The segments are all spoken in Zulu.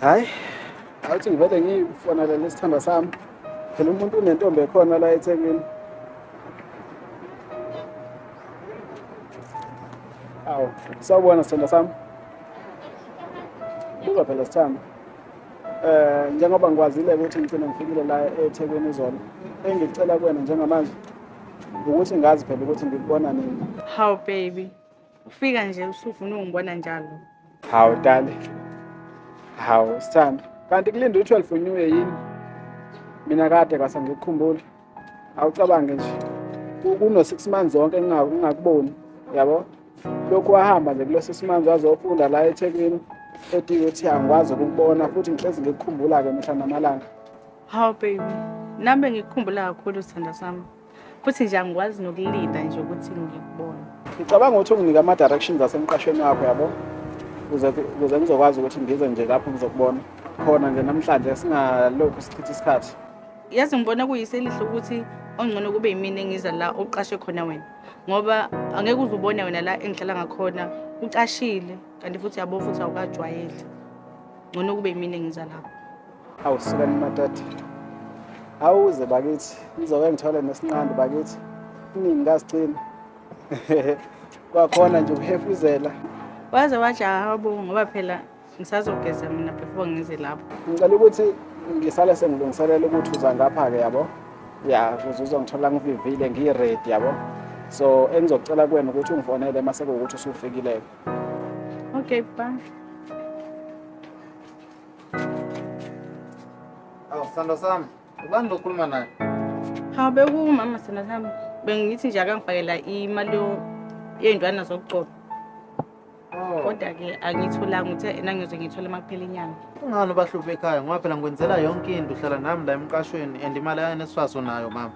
hayi awuthi ngivele ngifonele lesithandwa sami phela umuntu unentombi ekhona la ethekwini awu sawubona sithandwa sami buka phela sithanda um eh, njengoba ngikwazile ukuthi ngigcine ngifikile la ethekwini izolo engicela kuwena njengamanje ukuthi ngazi phela ukuthi ngikubona nini how baby ufika nje usufuna ungibona njalo hawu dale hawu sithando kanti kulinda u-12 unyuye yini mina kade kwase ngikukhumbula awucabange nje kuno-six months zonke ngingakuboni yabo lokhu wahamba nje kulo six months wazofunda la ethekwini ethi ukuthi angikwazi ukukubona futhi ngihlezi ngikukhumbula-ke mihla namalanga Hawu baby, nami ngikukhumbula kakhulu sithanda sami. Futhi nje angikwazi nokulinda nje ukuthi ngikubone. Ngicabanga ukuthi unginike ama directions asemqashweni wakho yabo. Ukuze ukuze ngizokwazi ukuthi ngize nje lapho ngizokubona. Khona nje namhlanje singalokhu sichitha isikhathi. Yazi ngibona kuyise elihle ukuthi ongcono kube yimina engiza la uqashe khona wena. Ngoba angeke uzubone wena la engihlala ngakhona ucashile kanti futhi yabo futhi awukajwayeli. Ngcono kube yimina engiza lapho. Awu sukani madoda. Awuze bakithi, ngizoke ngithole nesinqandi bakithi. Iningi kazicini. Kwakhona nje ukuhefuzela. Waze wajaha uBonga ngoba phela ngisazogeza mina before ngize lapho. Ngicela ukuthi ngisale sengilungiselela ukuthi uza ngapha-ke yabo. Ya, ukuze uzongithola ngivivile ngiyi-ready yabo. So engizocela kuwena ukuthi ungifonele uma sekuwukuthi usufikile-ke. Okay, bye. Awu sandwa sami, ubani lo okhuluma naye? Hawu bekumama sandwa sami. Bengithi nje akangifakela imali yo- yey'ntwana zokugcoba. Oh, Kodwa-ke angiyitholanga uthe ena ngiyoze ngiyithole uma kuphela inyanga. kungani ubahluphe ekhaya ngoba phela ngikwenzela yonke into uhlala nami la emqashweni and imali yaNSFAS unayo mama.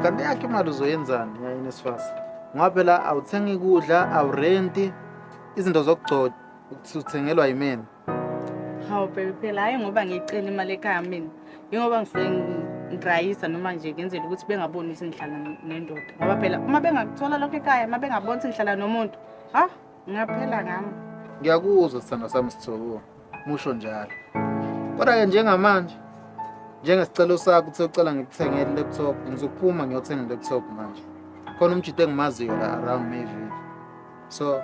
Kanti yakhe imali uzoyenzani yaNSFAS? Ngoba phela awuthengi kudla, awurenti, izinto zokugcoba uthengelwa yimina. Hawu baby phela hayi ngoba ngicela imali ekhaya mina. Yingoba ngisuke ngidrayisa noma nje ngenzela ukuthi bengaboni ukuthi ngihlala nendoda. Ngoba phela uma bengakuthola lokho ekhaya, uma bengaboni ukuthi ngihlala nomuntu, ha ngaphela ngami. Ngiyakuzwa sithando sami Sithoko. Musho njalo. Kodwa ke njengamanje njengesicelo sakho uthe ucela ngikuthengele laptop, ngizophuma ngiyothenga laptop manje. Khona umjita engimaziyo la around Mayville. so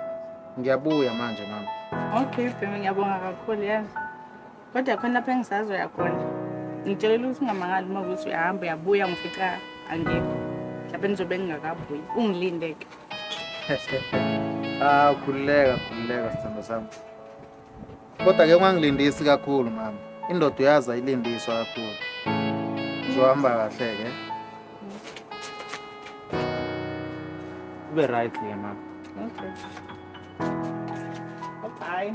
ngiyabuya manje mama okay bhemi ngiyabonga kakhulu yazi kodwa khona lapho engisazoya khona ngitshelela ukuthi ungamangali uma ukuthi uyahamba uyabuya ngifica angikho mhlawumbe nizobe ngingakabuyi ungilindeke ah khululeka khululeka sithando sami Kodwa ke ungangilindisi kakhulu mama. Indoda uyazi ayilindiswa kakhulu. Uzohamba kahle ke. Ube right ke mama. Okay. Bye.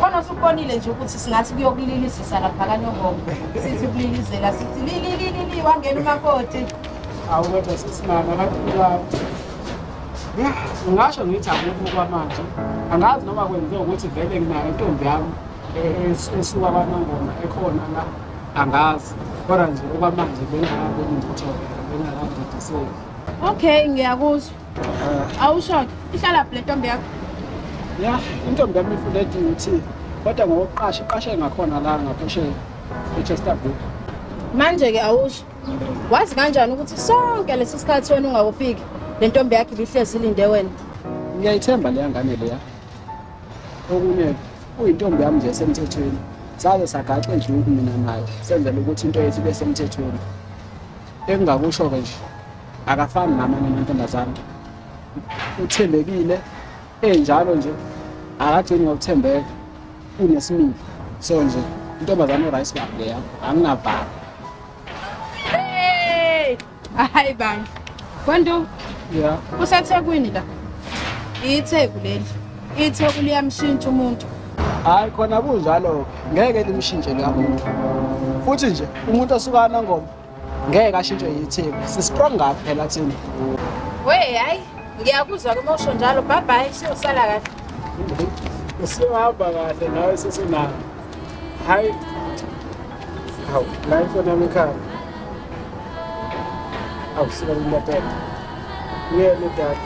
khona usubonile nje ukuthi singathi kuyokulilisisa lapha kanyongoma sithi ukulilizela sithi lilililili wangena umakoti awu kodwa sesimama abantu kulabo ngingasho ngithi akukho kwamanje angazi noma kwenze ukuthi vele nginayo intombi yami esuka kwanongoma ekhona la angazi kodwa nje okwamanje bengakaboni ngitho bengakadidiseki okay ngiyakuzwa awushoke ihlala phi le ntombi yakho ya intombi yami ifuleti ngithi kodwa ngokuqasha iqashe ngakhona la ngaphesheya echesterville manje-ke awusho wazi kanjani ukuthi sonke lesi sikhathi wena ungakufiki le ntombi yakhe ibihlezi ilinde wena ngiyayithemba leya ngane leya okunye uyintombi yami nje esemthethweni saze sagaxe nje ukumina nayo senzela ukuthi into yethu ibe semthethweni engingakusho-ke nje akafani namanye amantombazane uthembekile enjalo nje akagcini ngokuthembeka unesimilo so nje intombazane urice club leya anginavali hayi bandla kwantu ya usethekwini la itheku leli itheku liyamshintsha umuntu hayi khona kunjalo ngeke limshintshe likamuntu futhi nje umuntu osukana ngoma ngeke ashintshwe yitheku sistrong ngaphi phela thina we hayi ngiyakuzwa ke mosho njalo bye bye siyosala kahle usihamba kahle nawe sesinalo hayi hawu la ifoni yami ekhaya awusuka kumbatela uyele dad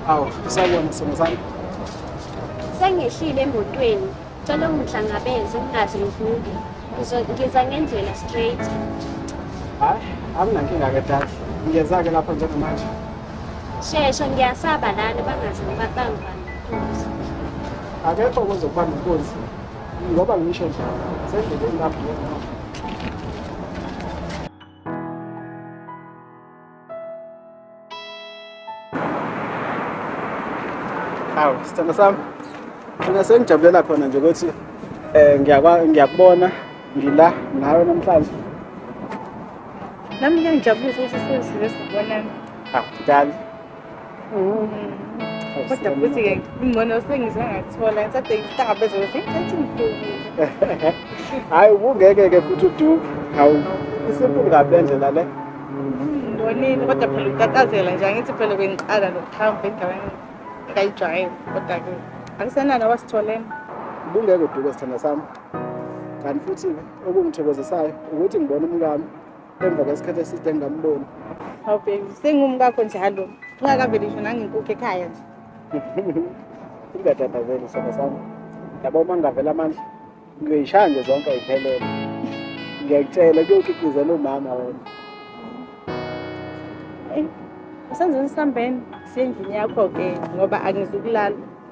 awu isabona sona sami sengehlile emotweni Cela ungihlangabeze ungaze ngivuke. Ngiza ngendlela straight. Hayi, anginankinga ke dad. Ngiyeza-ke lapho njengamanje. Shesha ngiyasaba lana bangaze bangibambe inkunzi. Akekho ozokubamba inkunzi ngoba ngisho nje sendleleni lapho Hawu, sithando sami. Mina sengijabulela khona nje ukuthi eh ngiyakwa ngiyakubona ngila nawe namhlanje. Nami ngiyangijabulisa ukuthi sesizwe sibonana. Hawu, dali. kodwa futhi-ke ingcono sengize ngathola ngithathe ihlaba ezokuthi ngithathe ngidukile hhayi ubungeke-ke futhi uduke hawu isimple kabi le ndlela le ndonile kodwa phela utatazela nje angithi phela bengiqala nokuhamba endaweni engayijwayele kodwa-ke akusenani wasitholeni ubungeke uduke sithanda sami kanti futhi okungithokozisayo ukuthi ngibona umkami emva kwesikhathi eside ngingamboni hawu baby sengumkakho njalo ungakaveli ngisho nangenkukhu ekhaya nje ingadadazeli sona sami yabo uma ngingavela amandla ngiyoyishaya nje zonke ayiphelele ngiyakutshela kuyoqiqizela umama wena usenzeni sihambeni siyendlini yakho-ke ngoba angizukulala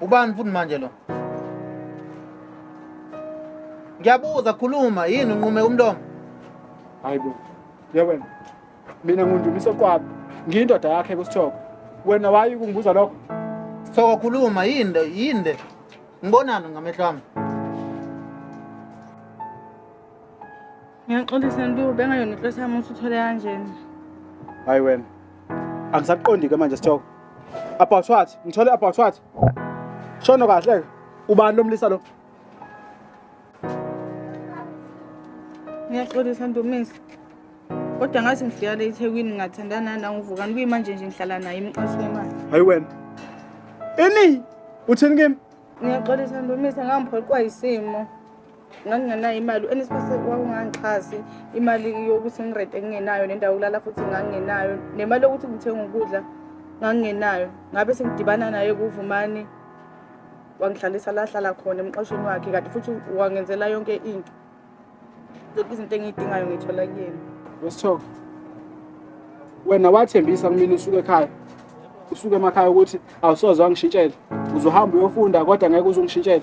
Ubani futhi manje lo? Ngiyabuza khuluma yini unqume umlomo? Hayi bo. Yewena. Mina ngundumisa kwabo. Ngiyindoda yakhe kusithoko. Wena wayi kungibuza lokho? Sithoko khuluma yinde yinde. Ngibonani ngamehlo ami? Ngiyaxolisa Ntu, bengayona inhloso yami ukuthi uthole kanjena. Hayi wena. angisaqondi-ke manje sithoko about what ngithole about what shono kahle-ke ubani lo mlisa lo ngiyaxolisa ntomisi kodwa ngathi ngifika le ethekwini ngingathandana nanguvukani kuyimanje nje ngihlala naye imqashi wemali hayi wena ini uthini kimi ngiyaxolisa ntomisi ngangiphoqwa yisimo nganginganayo imali uNSFAS wawungangixhasi imali yokuthi ngirente ngingenayo nendawo yokulala futhi ngangingenayo nemali yokuthi ngithenga ukudla ngangingenayo ngabe sengidibana naye kuvumani wangihlalisa la hlala khona emqashweni wakhe kanti futhi wangenzela yonke into zonke izinto engiyidingayo ngiyithola kuyena wesithoka wena wathembisa kumina usuke ekhaya usuke emakhaya ukuthi awusoze wangishintshela uzohamba uyofunda kodwa ngeke uze ungishintshele